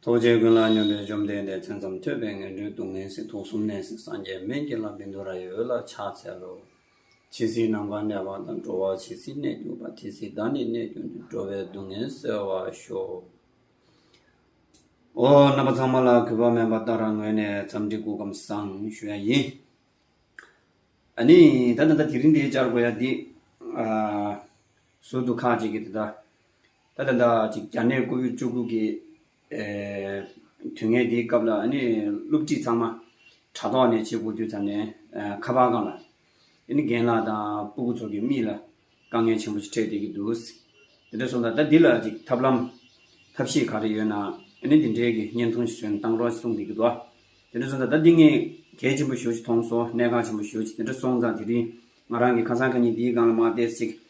ཐུགས་རྗེ་ཀུན་ལ་སྙོམས་པའི་བཅོམ་ལྡན་འདས་མཚན་ཙམ་ཐོས་པས་ངན་འགྲོའི་སྡུག་བསྔལ་སྲིད་དུག་གསུམ་ནད་སྲིད་སངས་རྒྱས་སྨན་གྱི་ལྷ་བིནྡུ་ར་ཡི་འོད་ལ་ཕྱག་འཚལ་ལོ། ཇི་སྲིད་ནམ་མཁའ་འདྲ་བ་དང་འགྲོ་བ་ཇི་སྲིད་གནས་གྱུར་པ་དེ་སྲིད་བདག་ནི་གནས་གྱུར་ནས་འགྲོ་བའི་སྡུག་བསྔལ་སེལ་བར་ཤོག། ཧོ། རྣམ་པ་ཚང་མ་ལ་གུས་པ་དམན་པ་ལྟར་རང་ངོས་ནས་འཚམས་འདྲི་སྐུ་ཁམས་བཟང་ཞུ་ཡ་ཡིན། ཨ་ནི། ད་ད་ད་དེ་རིང་འདི་བཅར་དགོས་ཡ་འདི། ཟུར་དུ་ཁག་ཅིག་གིས་དེ་ལྟར། ད་ལྟ་ཟླ་གཅིག་གྱ་ནས་སྐུ་ཕུད་བཅུ་དགུ་གི་དུས་ངན་དེའི་སྐབས་ལ་སློབ་ཁྲིད་ཚང་མ་དྲ་ཐོག་ནས་བྱེད་དགོས་དུས་ཚར་ནས་ཁ་པར་སྒང་ལ་རྒན་ལགས་དང་སྤུ་གུ་ཚོ་གི་མིག་ལ་དཀའ་ངལ་ཆེན་པོ་ཞིག་འཕྲད་བསྡད་ཀྱི་འདུག་དེ་འདྲ་སོང་ད་ལྟ་འདི་ལ་ཅིག་ཐབས་ལམ་ཐབས་ཤེས་ག་རེ་ཡོད་ན་འདི་འདྲའི་གི་བརྙན་ཐུང་ཞིག་བཟོས་ན་བཏང་རོགས་ཞིག་གསུངས་བསྡད་ཀྱི་འདུག་དེ་འདྲ་སོང་ད་ལྟ་འདི་ངས་གལ་ཆེན་པོ་ཞོ་ཞིག་མཐོང་སོང་གནད་འགག་ཆེན་པོ་ཞོ་ཞིག་དེ་འདྲ་སོང་ཙང་དེ་རིང་ང་རང་གི་ཁ་སང་ཁ་ཉིན་འདིའི་སྒང་ལ་མ་བསྡད་ཟིག་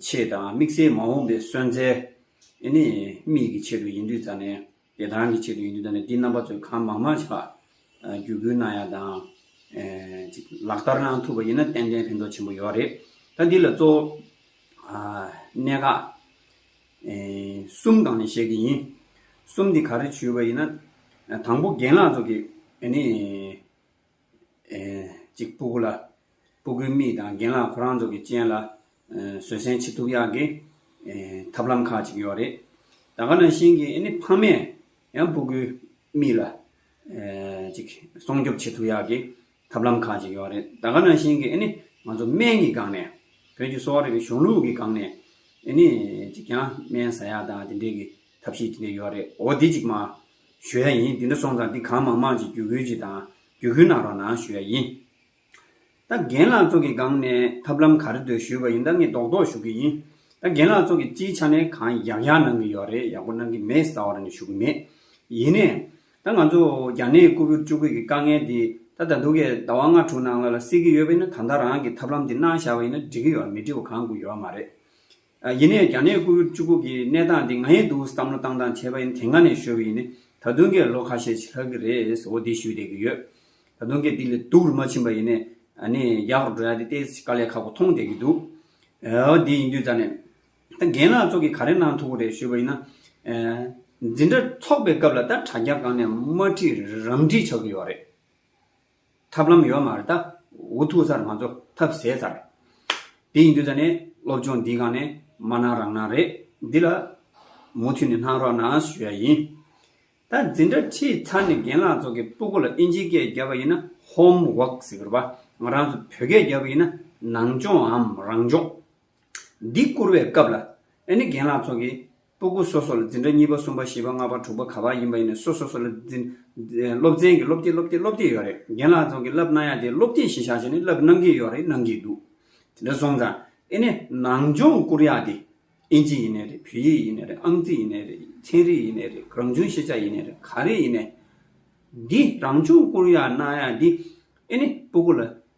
ཆེད་དང་དམིགས་བསལ་མ་འོངས་པའི་སོན་རྩལ། ཨེ་ནས་མིག་གི་ཆེད་དུ་ཡིན་དུས་ཙང་ནས་ཡེ་ཐང་གི་ཆེད་དུ་ཡིན་དུས་ཙང་ནས་དེའི་རྣམ་པ་ཚོས་གང་མང་མང་ཞིག་ལ་བརྒྱུད་སྐུལ་གནང་ཡག་དང། ཅིག་ལག་བསྟར་གནང་ཐུབ་པ་ཡིན་ན་ཏན་ཏན་ཕན་ཐོགས་ཆེན་པོ་ཡོད་རེད། ད་འདི་ལ་གཙོ་བོ་གནད་འགག་གསུམ་གང་ནས་བཤད་ཀྱི་ཡིན། གསུམ་འདི་ག་རེ་བྱུས་པ་ཡིན་ན། དང་པོ་རྒན་ལགས་ཚོ་གིས་ཨེ་ནས། ཅིག་སྤུ་གུ་ལ། སྤུ་གུའི་རྨིས་དང་རྒན་ལགས་ཁོ་རང་ཚོ་གི་སྤྱན་ལ། བཟོད་བསྲན་བྱེད་ཐུབ་ཡག་གི། ཐབས་ལམ་ཁག་ཅིག་ཡོད་རེད། ད་ག་ནང་བཞིན་གི་ཨནི་ཕ་མས། ཡང་སྤུ་གུའི་རྨིས་ལ། ཅིག་སྲོང་སྐྱོབ་བྱེད་ཐུབ་ཡག་གི། ཐབས་ལམ་ཁག་ཅིག་ཡོད་རེད། ད་ག་ནང་བཞིན་གི་ཨནི། ང་ཚོ་སྨན་གྱི་སྒང་ནས། བོད་ཀྱི་གསོ་བ་རིག་པའི་གཞུང་ལུགས་ཀྱི་སྒང་ནས། ཨནི། ཅིག་ཀྱང་སྨན་ཟ་ཡག་དང་དེ་འདྲའི་གི་ཐབས་ཤེས་དེ་འདྲའི་ཡོད་རེད། འོ་དེ་ཅིག་མ། ཞུ་ཡ་ཡིན། དེ་འདྲ་སོང་ཙང་འདི་གང་མང་མང་ཅིག་རྒྱུ་ཁུལ་ཅིག་དང་རྒྱུ་ཁུལ་ནང་རོགས་གནང་ཞུ་ཡ་ཡིན། ད་རྒན་ལགས་ཚོ་གི་སྒང་ནས་ཐབས་ལམ་ག་རེ་འདོད་ཞུས་པ་ཡིན་ད་ངས་རྡོག་རྡོག་ཞུ་གི་ཡིན། ད་རྒན་ལགས་ཚོ་གི་སྤྱིའི་ཆ་ནས་གང་ཡག་ཡག་གནང་གི་ཡོད་རེད་ཡག་པོ་གནང་གི་མེད་ས་བ་ར་ནས་ཞུ་གི་མེད། ཡིན་ནས། ད་ང་ཚོ་རྒྱ་ནད་ཀུ་བུར་བཅུ་གུ་གི་དཀའ་ངལ་འདི་ད་ད་དུ་གའི་ཟླ་བ་ལྔ་དྲུག་ནང་ལ་ལ་སེལ་གི་ཡོད་པ་ཡིན་ན་ད་ད་རང་གི་ཐབས་ལམ་འདི་གནང་བཞག་པ་ཡིན་ན་འགྲིག་གི་ཡོད་མི་འགྲིག་པ་གང་དགོས་ཡོད་མ་རེད། ཡིན་ནས་རྒྱ་ནད་སྐུ་བཅུ་པོ་གི་གནས་སྟངས་འདི་ང་ཡིན་འདུག་བསམ་བློ་བཏང་བཏང་བྱས་པ་ཡིན་དེ་སྔ་ནས་ཤོད་ཀྱི་ཡིན་ད་དུང་ཀྱེ་ལོ་ཁ་ཤས་ཕྱི་ལྷག་གི་རེད་འོ་དེ་ཞུས་བསྡད་ཀྱི་ཡོད་ད་དུང་ཀྱེ་འདི་ལས་སྡུག་རུ་མ་ཕྱིན་པ་ཡིན་ནས་རྒྱག་རུ་འགྲོ་ཡ་དེ་ལྟའི་དཀའ་ལས་ཁག་པོ་མཐོང་བསྡད་ཀྱི་འདུག་འོ་དེ་ཡིན་དུས་ད་ནས་ད་རྒན་ལགས་ཚོ་གི་ག་རེ་གནང་ཐུབ་རེད་ཞུས་པ་ཡིན་ན། འཛིན་གྲྭ་འཚོགས་པའི་སྐབས་ལ་ད་དྲ་རྒྱ་སྒང་ནས་དམར་ཁྲིད་རམ་འཁྲིད་ཆགས་ཀྱི་ཡོད་རེད། ཐབས་ལམ་ཡོད་མ་རེད་ད། འུ་ཐུག་ཚར་ང་ཚོ་ཐབས་ཟད་ཚར། དེ་ཡིན་དུས་ད་ནས་སློབ་སྦྱོང་འདི་གང་ནས་མ་གནང་རང་གནང་རེད། འདི་ལ་མུ་མཐུད་ནས་གནང་རོགས་གནང་ཞུ་ཡ་ཡིན། ད་འཛིན་གྲྭ་ཁྲིད་ཚར་ནས་རྒན་ལགས་ཚོ་གི་སྤུ་གུ་ལ་ཨིན་ཇི་སྐད་བརྒྱབ་པ་ཡིན་ན Home Work ཟེར་བ། ང་རང་ཚོ་བོད་སྐད་བརྒྱབ་པ་ཡིན་ན་ནང་སྦྱོང་འམ་རང་སྦྱོང། འདི་བསྐུར་བའི་སྐབས་ལ། ཨེ་ནི་རྒན་ལགས་ཚོགས་ཀྱིས། སྤོ་སྒུག་སོ་སོ་ལ་འཛིན་གྲྭ་གཉིས་པ་གསུམ་པ་བཞི་པ་ལྔ་པ་དྲུག་པ་ག་པར་ཡིན་པ་ཡིན་ནས་སོ་སོ་སོ་ལ་འཛིན། སློབ་ཚན་གྱི་སློབ་དེབ་སློབ་དེབ་སློབ་དེབ་ཡོད་རེད། རྒན་ལགས་ཚོགས་ཀྱིས་བསླབ་གནང་ཡ་དེ་སློབ་དེབ་ཞིག་བཞག་བྱས་ནས་བསླབ་གནང་གི་ཡོད་རེད་གནང་གི་འདུག་དེ་འདྲ་སོང་ཙང་ཨེ་ནི་ནང་སྦྱོང་བསྐུར་ཡ་དེ། ཨིན་ཇི་ཡིན་ནའི་རེད་བོད་ཡིག་ཡིན་ནའི་རེད་ཨང་རྩིས་ཡིན་ནའི་རེད་ཚན་རིག་ཡིན་ནའི་རེད་རང་བྱུང་ཤེས་བྱ་ཡིན་ནའི་རེད་ག་རེ་ཡིན་ནའི། འདི་རང་སྦྱོང་བསྐུར་ཡ་གནང་ཡ་འདི། ཨེ་ནི་སྤོ་སྒུག་ལ།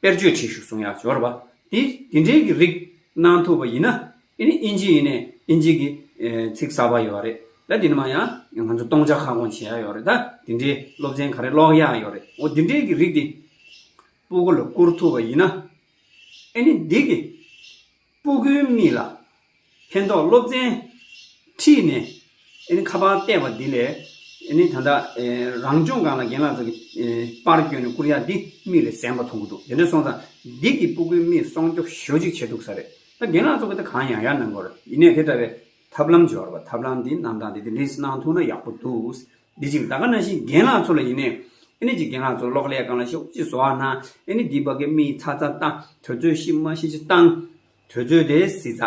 དཔེར་བརྗོད་ཁྲིད་ཞུ་གསུང་ཡ་སྦྱོར་བ། དེ་དེ་འདྲའི་གི་རིགས་གནང་ཐུབ་པ་ཡིན་ན། དེ་ནི་ཨིན་ཇི་ཡིན་ནས་ཨིན་ཇི་གི་ཚིག་གསར་པ་ཡོད་རེད་ད་དེ་ནི་མ་ཡང་ང་ཚོ་སྟོང་ཆ་ཁ་སྐོང་བྱེད་ཡ་ཡོད་རེད་ད་དེ་འདྲའི་སློབ་ཚན་ག་རེ་ཀློག་ཡ་ཡོད་རེད་འོ་དེ་འདྲའི་གི་རིགས་དེ་སྤུ་གུ་ལ་བསྐུར་ཐུབ་པ་ཡིན་ན། ཨེ་ནི་འདི་གི་སྤུ་གུའི་རྨིས་ལ་ཕན་ཐོགས་སློབ་ཚན་ཁྲིད་ནས་ཨནི་ཁ་པར་བལྟས་པ་འདི་ལས་ཨནི་ད་ལྟ་རང་སྦྱོང་སྒང་ལ་རྒན་ལགས་ཚོ་གི་པར་བསྐྱོན་ནས་བསྐུར་ཡ་འདི་རྨིས་ལས་གཟན་པ་མཐོང་གི་འདུག་དེ་འདྲ་སོང་ཙང་འདི་གི་སྤུ་གུའི་རྨིས་སྲོང་སྐྱོབ་ཞོ་ཅིག་བྱེད་ཐུག་ས་རེད་ད་རྒན་ལགས་ཚོ་གི་ད་གང་ཡང་ཡར་གནང་དགོས་རེད་ཡིན་ནས་དེ་འདྲ་བའི་ཐབས་ལམ་སྦྱོར་བ་ཐབས་ལམ་འདི་རྣམས་དང་འདི་འདི་འདི་ནས་གནང་ཐུག་ན་ཡག་པོ་འདུག་དེ་བཞིན་ད་ག་ན་ཤིང་རྒན་ལགས་ཚོ་ལ་ཡིན་ནས། ཨེ་ནི་ཅི་རྒན་ལགས་ཚོ་གློག་ཀླད་གང་ལ་ཤོག་ཅིག་བཟོ་བ་ན། ཨེ་ནི་འདི་བ་གའི་མི་ཡི་ཚ་ཚ་ལྟ། དོལ་ཚོའི་ཤི་མ་ཤི་ཅི་བཏང། དོལ་ཚོའི་དེ་སི་ཚ།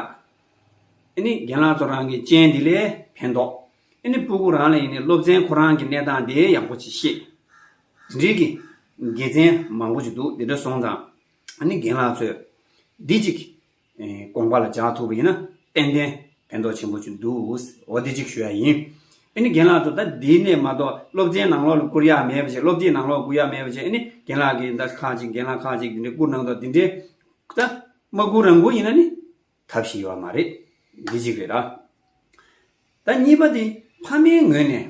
ཨེ་ནི་རྒན་ལགས་ཚོ་རང་གི་སྤྱན་འདི་ལས་ཕན་ཐོག། ཨེ་ནི་སྤུ་གུ་རང་ལ་ཡིན་ནས་སློབ་ཚན་ཁོ་རང་གི་གནས་སྟངས་དེ་ཡག་པོ་ཅིག་ཤེས། དེ་འགྲིག་གི། དགེ་མཚན་མང་པོ་ཅིག་འདུག་དེ་འདྲ་སོང་ཙང། ཨེ་ནི་རྒན་ལགས་ཚོས། འདི་ཅིག། དགོངས་པ་ལ་སྦྱར་ཐུབ་པ་ཡིན་ན་ཏན་ཏན་ཕན་ཐོགས་ཆེན་པོ་ཅིག་འདུག་འོ་དེ་གཅིག་ཞུ་ཡ་ཡིན། ཨེ་ནི་རྒན་ལགས་ཚོ་ད་འདི་ནས་མ་གཏོགས་སློབ་ཆེན་ནང་ལོགས་ལ་བསྐུར་ཡག་མེད་པ་ཞིག་སློབ་དེབ་ནང་ལོགས་བསྐུར་ཡག་མེད་པ་ཞིག་ཨེ་ནི་རྒན་ལགས་ཀྱིས་ད་ཁག་ཅིག་རྒན་ལགས་ཁག་ཅིག་འདི་འདྲས་བསྐུར་གནང་དོགས་འདི་འདྲས་ད་མ་བསྐུར་རང་བསྐུར་ཡིན་ན་ནི་ཐབས་ཤེས་ཡོད་མ་རེད་འདི་གཅིག་རེད་ད། ད་གཉིས་པ་དེ་ཕ་མའི་ངོས་ནས་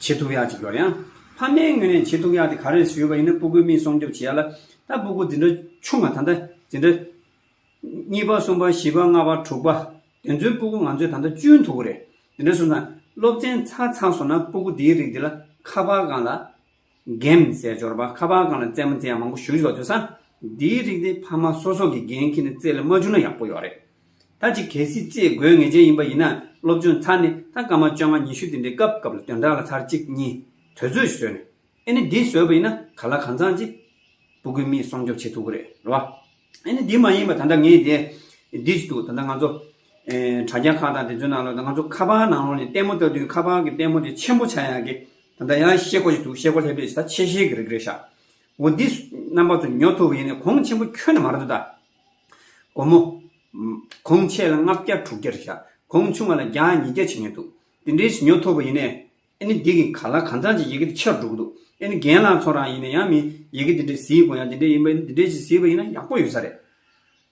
བྱེད་ཐུག་ཡག་ཅིག་ཡོད་ཡང། ཕ་མའི་ངོས་ནས་བྱེད་ཐུག་ཡག་དེ་ག་རེ་ཞུས་པ་ཡིན་ན་སྤུ་གུའི་མིག་སྲུང་སྐྱོབ་བྱེད་ཡག་ལ། ད་སྤུ་གུ་འདི་འདྲ་ཆུང་མ་ད་ལྟ་འདི་འདྲ། གཉིས་པ་གསུམ་པ་བཞི་པ་ལྔ་པ་དྲུག་པ། དེ་ཚོའི་སྤུ་གུ་ང་ཚོས་ད་ལྟ་གཅུན་ཐུག་གི་རེད། དེ་འདྲ་བྱུང་ཙང་སློབ་ཚན་ཚར་ཚར་སོང་ན་སྤུ་གུ་འདིའི་རིགས་འདི་ལ་ཁ་པར་སྒང་ལ་འགན་བཟས་འབྱོར་པ་ཁ་པར་ཁང་ལ་རྩེད་མོ་རྩེ་ཡག་མང་པོ་ཞུ་བཞིན་པ་ཐོས་ས། འདིའི་རིགས་དེ་ཕ་མ་སོ་སོ་གིས་འགན་ཁྱེར་ནས་རྩེད་ལ་མ་བཅུག་ན་ཡག་པོ་ཡོག་རེད། ད་ཅིག་གལ་སྲིད་རྩེད་དགོས་ངེས་ཅན་ཡིན་པ་ཡིན་ན་སློབ་སྦྱོང་ཚར་ནས་ད་སྐར་མ་བཅོ་ལྔ་ཉི་ཤུ་དེ་འདྲའི་སྐབས་སྐབས་ལ་དོན་དག་ལ་ཚར་གཅིག་གཉིས་དོལ་ཚོད་ཞིག་བཟོས་ནས་ཨེ་ནི་འདི་བཟོས་པ་ཡིན་ན་ག་ལ་གང་ཚང་ཅིག་པུ་གུས་མིས་སྲོང་སྐྱོབ་བྱེད་ཐུབ་གི་རེད་ལོ། ཨེ་ནི་འདི་མ་ཡིན་པ་ད་ལྟ་ངས་དེ་འདི་ཅིག་འདུག་ད་ལྟ་ང་ཚོ་དྲ་རྒྱ་ཁག་དང་དེ་ཚོའི་ནང་ལ་ང་ཚོ་ཁ་པར་ནང་ལོགས་ནས་ལྟད་མོ་ལྟ་དུས་ཁ་པར་གྱི་ལྟད་མོ་དེ་ཆེན་པོ་ཆགས་ཡག་གི་ད་ལྟ་ཡང་ཤེས་སྒོ་ཞིག་འདུག་ཤེས་སྒོ་ལྷེབ་ལྷེབ་ད་ཆེ་ཤེས་གི་རེད་གི་རེད་ཤག་འོ་འདི་རྣམ་པ་ཚོ་ཉོ་ཐུབ་པ་ཡིན་ནའི་གོང་ཆེན་པོ་ཁྱོན་ནས་མ་རེད་དོ་ད། སྒོར་མོ། གོང་ཆེ་ལ་ལྔ་བརྒྱ་དྲུག་བརྒྱ་རེད་ཤག་གོང་ཆུང་བ་ལ་བརྒྱ་ཉིས་བརྒྱ་བྱེད་ངེས་འདུག་དེ་འདྲའི་ཞིག་ཉོ་ཐུབ་པ་ཡིན་ནའི་ཨེ་ནི་འདི་གི་ག་ལ་གང་ཚང་གཅིག་ཡི་གེ་དེ་ཆེར་འགྲོ་གི་འདུག་ཨེ་ནི་རྒན་ལགས་ཚོ་རང་ཡིན་ནའི་ཡང་མི་ཡི་གེ་དེ་འདྲའི་གཟིགས་དགོས་ཡང་དེ་འདྲའི་ཡིན་པ་ཡིན་ན་དེ་འདྲའི་ཞིག་གཟིགས་པ་ཡིན་ན་ཡག་པོ་ཡོད་ས་རེད།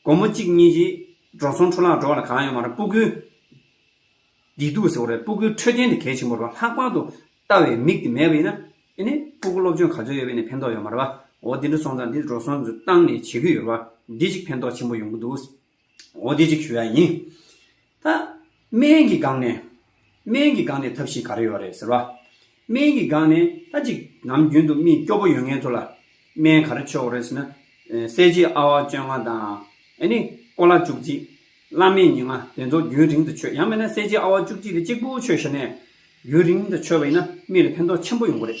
སྒོར་མོ་གཅིག་གཉིས་ཀྱིས་འགྲོ་སོང་འཕྲོ་ལག་འགྲོ་བ་ལ་གང་ཡོད་མ་རེད་སྤུ་གུའི། བདེ་སྡུག་ཟེར་བ་རེད་སྤུ་གུའི་འཕྲོད་བསྟེན་དེ་གལ་ཆེན་པོ་རེད་ལྷག་པར་དུ་ལྟ་བའི་མིག་དེ་མེད་པ་ཡིན་ན། ཨེ་ནས་སྤུ་གུ་སློབ་སྦྱོང་ག་ཚོད་ཡོད་པས་ནས་ཕན་ཐོགས་ཡོད་མ་རེད་པ། འོ་དེ་འདྲ་སོང་ཙང་འདི་འགྲོ་སོང་ཏང་ནས་བྱེད་ཀྱི་ཡོད་རེད་པ། འདི་གཅིག་ཕན་ཐོགས་ཆེན་པོ་ཡོང་གི་འདུག། འོ་དེ་གཅིག་ཞུ་ཡག་ཡིན། ད། སྨན་གྱི་སྒང་ནས། སྨན་གྱི་སྒང་ནས་ཐབས་ཤེས་ག་རེ་ཡོད་རེད་ཟེར་བ། སྨན་གྱི་སྒང་ནས་ད་གཅིག་ནམ་རྒྱུན་དུ་མི་སྐྱོ་པོ་ཡོད་ངེས་ཐུག་ལ། སྨན་ག་རེ་ཆོག་གོ་རེད་ཟེར་ན། གསལ་བྱེད་ཨ་བ་བཅོ་ལྔ་དང། ཨེ་ནི། ཀོ་ལ་བཅུ་གཅིག། བླ་སྨན་ཉིན་ལྔ་དེ་ཚོ་རྒྱུན་རིང་དུ་ཆོད་ཡང་མིན་ན་གསལ་བྱེད་ཨ་བ་བཅུ་གཅིག་དེ་གཅིག་པུ་ཆོད་ཤ་ནས། རྒྱུན་རིང་དུ་ཆོད་པ་ཡིན་ན་མི་ལ་ཕན་ཐོགས་ཆེན་པོ་ཡོང་གི་རེད།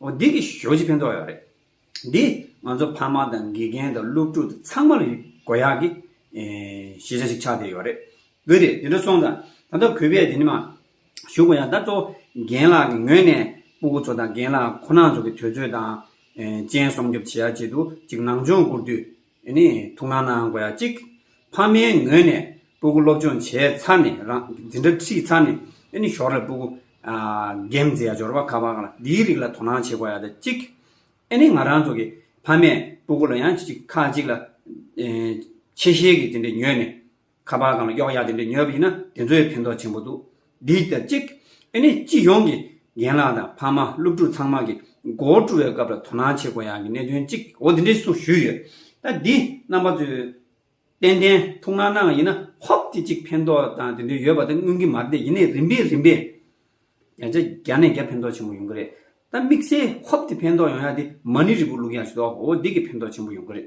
འོ་འདི་གི་ཞོ་ཅི་ཕན་ཐོག་ཡག་རེད། འདི་ང་ཚོ་ཕ་མ་དང་དགེ་རྒན་དང་སློབ་ཕྲུག་དང་ཚང་མ་ལ་ཡི་གོ་ཡག་གི་ཤེས་བྱ་ཞིག་ཆགས་བསྡད་ཡོད་རེད། བུ་རེད་དེ་འདྲ་སོང་ཙང་ད་ལྟ་གུས་པས་དེ་ནི་མ་ཞུ་གོ་ཡག་ད་གཙོ་བོ་རྒན་ལགས་ཀྱི་ངོས་ནས་སྤུ་གུ་ཚོ་དང་རྒན་ལགས་ཁོ་ན་ཚོ་གི་དུས་ཚོད་དང། སྤྱན་སྲོང་སྐྱོབ་བྱེད་ཡག་བྱེད་དུ་ཅིག་ནང་སྦྱོང་བསྐུར་དུས། ཡོད་ནི་ཐུགས་སྣང་གནང་དགོས་ཡ་གཅིག། ཕ་མའི་ངོས་ནས་སྤུ་གུ་སློབ་སྦྱོང་བྱས་ཚར་ནས་རང་འཛིན་གྲ་ཁྲིད་ཚར་ནས་ཡོད་ནི་ཞོར་ལས་སྤུ་གུ། རྒན་མཛེས་ཡ་འབྱོར་བ་ཁ་བ་ཁ་ལ་འདིའི་རིགས་ལ་དོ་སྣང་བྱེད་དགོས་ཡ་དེ་གཅིག། ཡོད་ནི་ང་རང་ཚོ་གི་ཕ་མས་སྤུ་གུ་ལ་ཡང་ཁ་ཅིག་ལ། ཆེ་ཤེལ་གྱི་དེ་འདྲས་ཉོས་ནས། ཁ་པར་གང་ལ་གཡོག་ཡག་དེ་འདྲས་ཉོས་པ་ཡིན་ན་དེ་ཚོའི་ཕན་ཐོགས་ཆེན་པོ་འདུག་འདི་ལྟར་གཅིག། ཨེ་ནི་སྤྱི་ཡོངས་ཀྱི་རྒན་ལགས་དང་ཕ་མ་སློབ་ཕྲུག་ཚང་མ་གི་མགོ་བོ་བཀྲུ་བའི་སྐབས་ལ་དོ་སྣང་བྱེད་དགོས་ཡག་གི་གནད་དོན་གཅིག་འོ་དེ་འདྲས་སུ་ཞུས་ཡོད་ད་འདི་རྣམ་པ་ཚོས་ཏན་ཏན་ཐུགས་སྣང་གནང་བ་ཡིན་ན་ཧོབ་དེ་གཅིག་ཕན་ཐོགས་དང་དེ་འདྲས་ཡོད་པ་དེ་མངོན་གི་མ་རེད་ཡིན་ནའི་རིམ་པས་རིམ་པས་བརྒྱ་ཆ་བརྒྱ་ནས་བརྒྱ་ཕན་ཐོགས་ཆེན་པོ་ཡོང་གི་རེད་ད་དམིགས་བསལ་ཧོབ་དེ་ཕན་ཐོགས་ཡོང་ཡག་དེ་མ་ནི་རིལ་བུ་བླུག་ཡག་ཞིག་འདུག་འོ་འདི་གི་ཕན་ཐོགས་ཆེན་པོ་ཡོང་གི་རེད